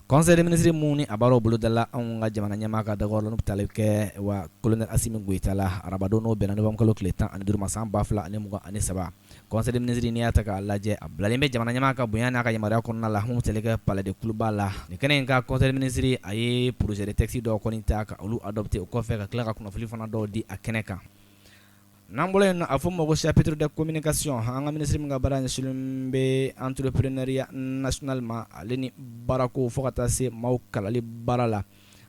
Conseil des ministres min ni a baaraw bolodala anw ka jamana ɲɛmaa ka dagayɔrɔ la n'o bɛ tali kɛ wa colonel Asimi Goita la arabadon n'o bɛnna novembre kalo tile tan ani duuru ma san ba fila ani mugan ani saba conseil des ministres n'i y'a ta k'a lajɛ a bilalen bɛ jamana ɲɛmaa ka bonya n'a ka yamaruya kɔnɔna la mun tali kɛ palais de Kuluba la nin kɛnɛ in kan conseil des ministres a ye projet de texte dɔw kɔni ta ka olu adopter o kɔfɛ ka tila ka kunnafoni fana dɔw di a kɛnɛ kan n'an bɔra yen a fɔ ma ko chapitre des communications an ka minisiri min ka baara ɲɛsinnen bɛ entrepreneuriat national ma ale ni baarako fo ka taa se maaw kalali baara la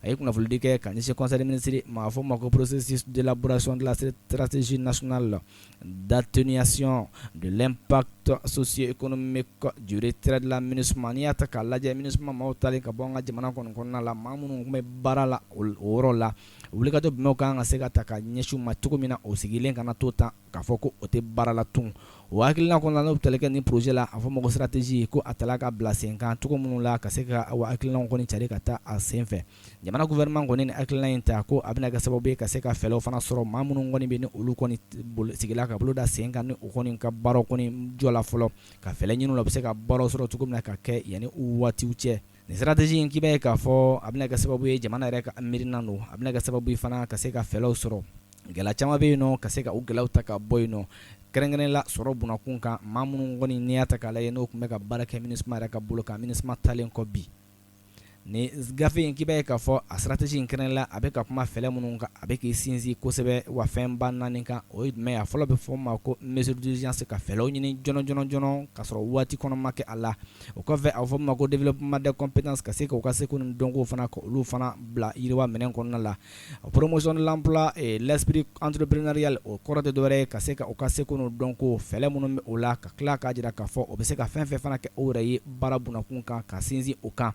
a ye kunnafonidi kɛ ka ɲɛsin conseil des ministres ma a fɔ ma ko processus d'élaboration de la stratégie nationale d'atténuation de l'impact socio-économique du retrait de la MINUSMA n'i y'a ta k'a lajɛ MINUSMA maaw taalen ka bɔ an ka jamana kɔni kɔnɔna la maa minnu tun bɛ baara la o yɔrɔ la wulikajɔ jumɛnw ka kan ka se ka ta ka ɲɛsin u ma cogo min na o sigilen kana to tan k'a fɔ ko o tɛ baara la tun o hakilina kɔnɔna n'o bɛ tali kɛ nin projet la a fɔ ma ko stratégie ko a tala ka bila sen kan cogo minnu la ka se ka o hakilinaw kɔni cari ka taa a senfɛ jamana gouvernement kɔni nin hakilina in ta ko a bɛna kɛ sababu ye ka se ka fɛɛrɛw fana sɔrɔ maa minnu kɔni bɛ ni olu kɔni sigila ka bolo da sen kan ni u kɔni ka baaraw kɔni jɔla fɔlɔ ka fɛɛrɛ ɲini u la u bɛ se ka baaraw sɔrɔ cogo min na ka kɛ yanni u waatiw cɛ Nin stratégie in k'i b'a ye k'a fɔ a bɛna kɛ sababu ye jamana yɛrɛ ka miirina don a bɛna kɛ sababu ye fana ka se ka fɛɛrɛw sɔrɔ gɛlɛya caman bɛ yen nɔ ka se ka u gɛlɛyaw ta ka bɔ yen nɔ kɛrɛnkɛrɛnnen la sɔrɔ bunakun kan maa minnu kɔni n'i y'a ta k'a lajɛ n'o tun bɛ ka baara kɛ MINUSMA yɛrɛ ka bolo kan MINUSMA taalen kɔ bi nin gafe in k'i b'a ye k'a fɔ a stratégie in kɛrɛnkɛrɛnnen la a bɛ ka kuma fɛɛrɛ minnu kan a bɛ k'i sinsin kosɛbɛ wa fɛnba naani kan o ye jumɛn ye a fɔlɔ bɛ fɔ ma ko mesures d'urgence ka fɛɛrɛw ɲini joona joona joona ka sɔrɔ waati kɔnɔ ma kɛ a la o kɔfɛ a bɛ fɔ ma ko développement des compétences ka se k'u ka seko ni dɔnko fana ka olu fana bila yiriwa minɛn kɔnɔna la promotion de l'emploi et l'esprit entrepreneurial o kɔrɔ tɛ dɔwɛrɛ ye ka se ka u ka seko ni dɔnko fɛɛrɛ minnu bɛ o la ka tila k'a jira k'a fɔ o bɛ se ka fɛn fɛn fana kɛ o yɛrɛ ye baara bunakun kan ka sinsin o kan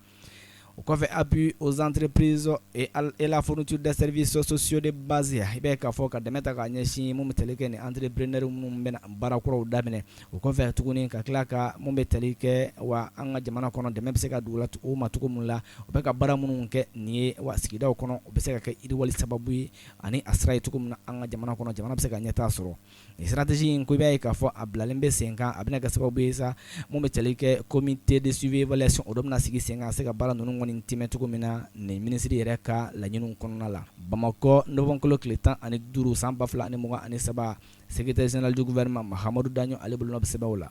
o kɔfɛ appui aux entreprises et la fourniture des services sociaux de base i bɛ k'a fɔ ka dɛmɛ ta k'a ɲɛsin mun bɛ tali kɛ ni entrepreneurs minnu bɛna baara kuraw daminɛ o kɔfɛ tuguni ka tila ka mun bɛ tali kɛ wa an ka jamana kɔnɔ dɛmɛ bɛ se ka dugu o ma cogo min la u bɛ ka baara minnu kɛ nin ye wa sigidaw kɔnɔ u bɛ se ka kɛ yiriwali sababu ye ani a sira ye cogo min na an ka jamana kɔnɔ jamana bɛ se ka ɲɛtaa sɔrɔ Nin stratégie in ko i b'a ye k'a fɔ a bilalen bɛ sen kan a bɛna kɛ sababu ye sa mun bɛ tali kɛ comité de suivi-évaluation o dɔ bɛna sigi sen kan a se ka baara ninnu kɔni tiimɛ cogo min na nin minisiri yɛrɛ ka laɲini kɔnɔna la Bamakɔ novembre kalo tile tan ani duuru san ba fila ani mugan ani saba secrétaire général du gouvernement Mahamadu Daɲɔ ale bolonɔ bɛ sɛbɛnw la